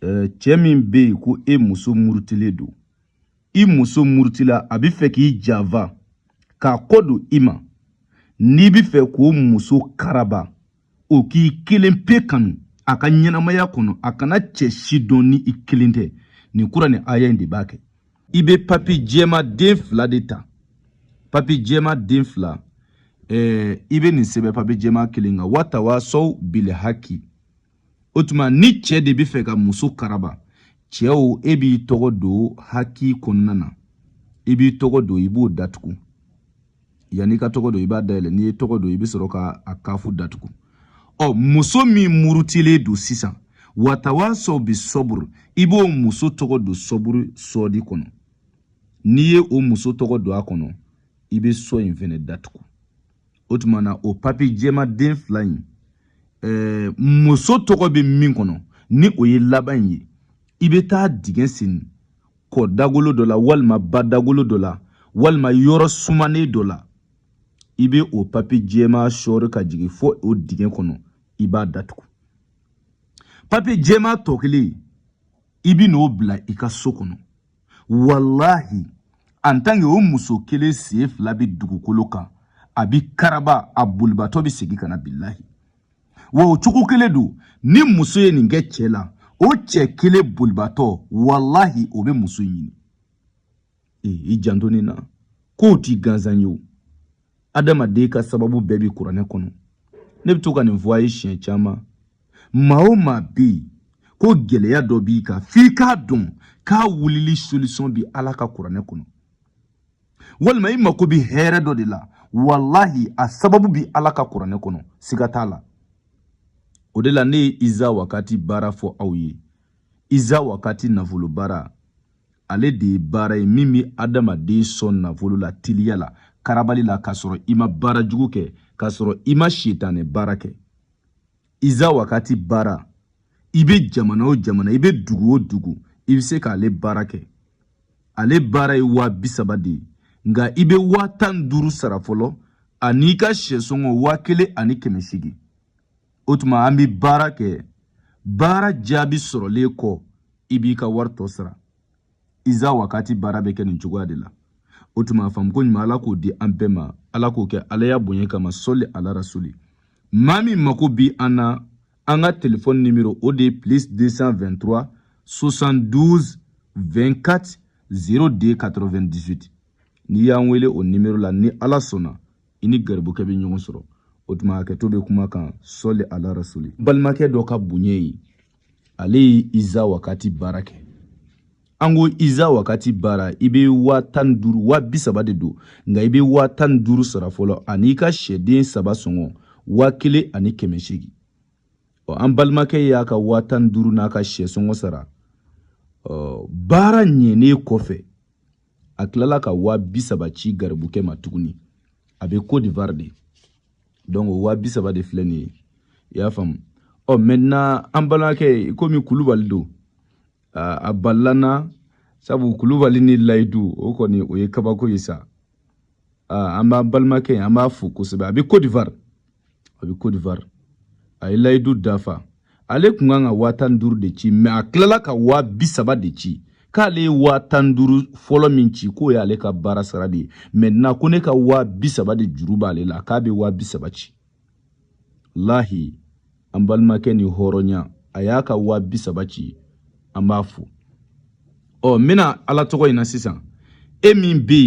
Ɛɛ cɛ min bɛ yen ko e muso murutilen don i muso murutila a bɛ fɛ k'i janfa k'a kɔ don i ma n'i bɛ fɛ k'o muso karaba o k'i kelen pe kanu a ka ɲɛnamaya kɔnɔ a kana cɛ si dɔn ni i kelen tɛ nin kuranɛ aya in de b'a kɛ i bɛ papiye jɛman den fila de ta papiye jɛman den fila ɛɛ i bɛ nin sɛbɛn papiye jɛman kelen kan watawasaw bil haki o tuma ni cɛ de bɛ fɛ ka muso karaba cɛw e b'i tɔgɔ don haki kɔnɔna na i b'i tɔgɔ don i b'o datugu yanni ka tɔgɔ don i b'a dayɛlɛ n'i ye tɔgɔ don i bɛ sɔrɔ ka a kafu datugu ɔ muso min murutilen don sisan watawasaw bi sɔburu i b'o muso tɔgɔ don sɔburu sɔɔdi kɔnɔ n'i ye o muso tɔgɔ don a kɔnɔ i bɛ sɔ in fɛnɛ datugu o tuma na o papiye jɛman den fila in ɛɛ muso tɔgɔ bɛ min kɔnɔ ni o ye laban in ye i bɛ taa dingɛ sen kɔ dagolo dɔ la walima ba dagolo dɔ la walima yɔrɔ sumanen dɔ la i bɛ o papiye jɛman sɔɔri ka jigin fo o dingɛ kɔnɔ i b'a datugu papiye jɛman tɔ kelen i bɛ n'o bila i ka so kɔnɔ walahi en tant que o muso kelen sen fila bɛ dugukolo kan a bi karaba a bolibatɔ bɛ segin ka na bilahi wa o cogo kelen don ni muso ye nin kɛ cɛ la o cɛ kelen bolibatɔ walahi o bɛ muso ɲini ee i janto nin na k'o tɛ gansan ye o adamaden ka sababu bɛɛ bi kuranɛ kɔnɔ ne bɛ to ka nin fɔ a ye siɲɛ caman maa o maa bɛ yen ko gɛlɛya dɔ b'i kan f'i k'a dɔn k'a wulili solisɔn bi ala ka kuranɛ kɔnɔ walima i mako bɛ hɛrɛ dɔ de la walahi a sababu bi ala ka kuranɛ kɔnɔ siga t'a la o de la ne ye iza wakati baara fɔ aw ye iza wakati nafolo baara ale de ye baara ye min bɛ adamaden sɔn nafolo la teliya la karabali la k'a sɔrɔ i ma baara jugu kɛ k'a sɔrɔ i ma sitanɛ baara kɛ iza wakati baara i bɛ jamana o jamana i bɛ dugu o dugu i bɛ se k'ale baara kɛ ale baara ye waa bi saba de ye nka i bɛ waa tan ni duuru sara fɔlɔ an'i ka syɛ sɔngɔ waa kelen ani kɛmɛ seegin o tuma an bɛ baara kɛ baara jaabi sɔrɔlen kɔ i b'i ka wari tɔ sara iza wakati baara bɛ kɛ nin cogoya de la o tuma a faamuko ɲuman ala k'o di an bɛɛ ma ala k'o kɛ alaya bonya kama sɔli ala rasuli maa min mako bi an na an ka telefɔni nimero o de ye plus 223 72 24 02 98 n'i y'an wele o nimero la ni ala sɔnna i ni garibukɛ bɛ ɲɔgɔn sɔrɔ o tuma hakɛto bɛ kuma kan sɔli ala rasuli balimakɛ dɔ ka bonya ye ale ye iza wakati baara kɛ an ko iza wakati baara i bɛ waa tan ni duuru waa bi saba de don nka i bɛ waa tan ni duuru sara fɔlɔ an'i ka sɛden saba sɔngɔ waa kelen ani kɛmɛ seegin ɔ an balimakɛ y'a ka waa tan ni duuru n'a ka sɛ sɔngɔ sara ɔ baara ɲɛnen kɔfɛ a tilala ka waa bi saba ci garibukɛ ma tuguni a bɛ cote d'ivoire de donc o waa bi saba de filɛ nin ye i y'a faamu ɔ oh, maintenant an balimakɛ komi kulubali don a balila n na sabu kulubali ni layidu o kɔni o ye kabako ye sa an b'an balimakɛ ye an b'a fo kosɛbɛ a bɛ cote d'ivoire a bɛ Cote d'Ivoire a ye layidu dafa ale tun kan ka waa tan ni duuru de ci mais a tilala ka waa bi saba de ci k'ale ye waa tan ni duuru fɔlɔ min ci k'o y'ale ka baara sara de ye maintenant ko ne ka waa bi saba de juru b'ale la k'a bɛ waa bi saba ci lahi an balimakɛ ni hɔrɔnya a y'a ka waa bi saba ci an b'a fo ɔ n bɛ na ala tɔgɔ in na sisan e min bɛ yen